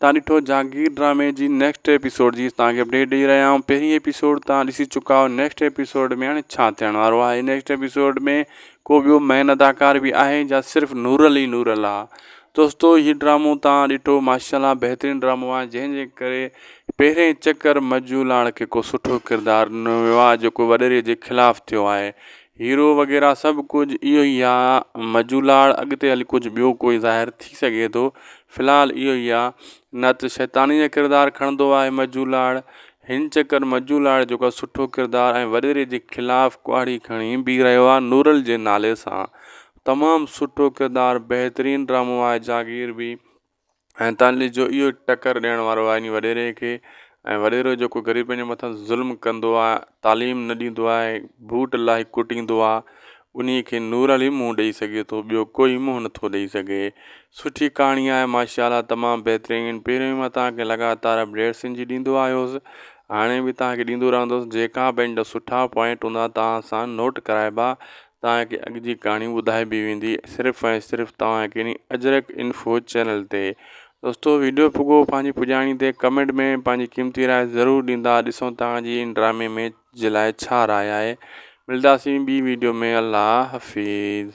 تان ڏٺو جھانگير ڊرامي جي نيڪسٽ ايپيسوڊ جي تان کي اپڊيٽ ڏئي رھيا آھيون پھرين ايپيسوڊ تان ڏسي چڪا آھيو نيڪسٽ ايپيسوڊ ۾ ھاڻي ڇا ٿيڻ وارو آھي نيڪسٽ ايپيسوڊ ۾ ڪو ٻيو مين اداڪار به آھي جا صرف نورل ئي نورل آ دوستو ھي ڊرامو تان ڏٺو ماشاالله بهترين ڊرامو آ جنهن جي ڪري پهرين چڪر مجولاڻ کي ڪو سٺو ڪردار ڏنو ويو آ جيڪو وڏيري جي خلاف ٿيو آھي هيرو وغيره سڀ ڪجهه اهو ئي آ مجولاڙ اڳتي هلي ڪجهه ٻيو ڪوئي ظاهر ٿي سگهي ٿو في الحال اهو ئي آ نه ته شيطاني جا ڪردار کڻندو آهي مجولاڙ هن چڪر مجولاڙ جيڪو آ سٺو ڪردار ۽ وڏيري جي خلاف ڪهاڙي کڻي بيهي رهيو آ نورل جي نالي سان تمام سٺو ڪردار بهترين ڊرامو آهي جاگير به ۽ تعليل جو اهو ٽڪر ڏيڻ وارو آئيني وڏيري کي ۽ وڏيرو جيڪو غريبن جي مٿان ظلم ڪندو آهي تعليم نه ڏيندو آهي بوٽ لاهي ڪٽيندو آهي ان کي نور علي منهن ڏئي سگهي ٿو ٻيو ڪوئي منهن نٿو ڏئي سگهي سٺي ڪهاڻي آهي ماشاءالله تمام بهترين پهريون ئي مان تهانکي لڳاتار اپڊيٽس ان جي ڏيندو آيو هوس هاڻي به تهانکي ڏيندو رهندوس جيڪا به ان جا سٺا پوائنٽ هوندا تهان سان نوٽ ڪرائبا توهان کي اڳ جي ڪهاڻي ٻڌائبي ويندي صرف ۽ صرف توهان کي ني اجرڪ انفو چينل تي دوستو ويڊيو پڳو پنهنجي پڄاڻي تي ڪمينٽ ۾ پنهنجي قيمتي راء ضرور ڏيندا ڏسون توهان جي ان ڊرامي ۾ جي لاء ڇا راء آهي ملداسين ٻي ويڊيو ۾ الله حفيظ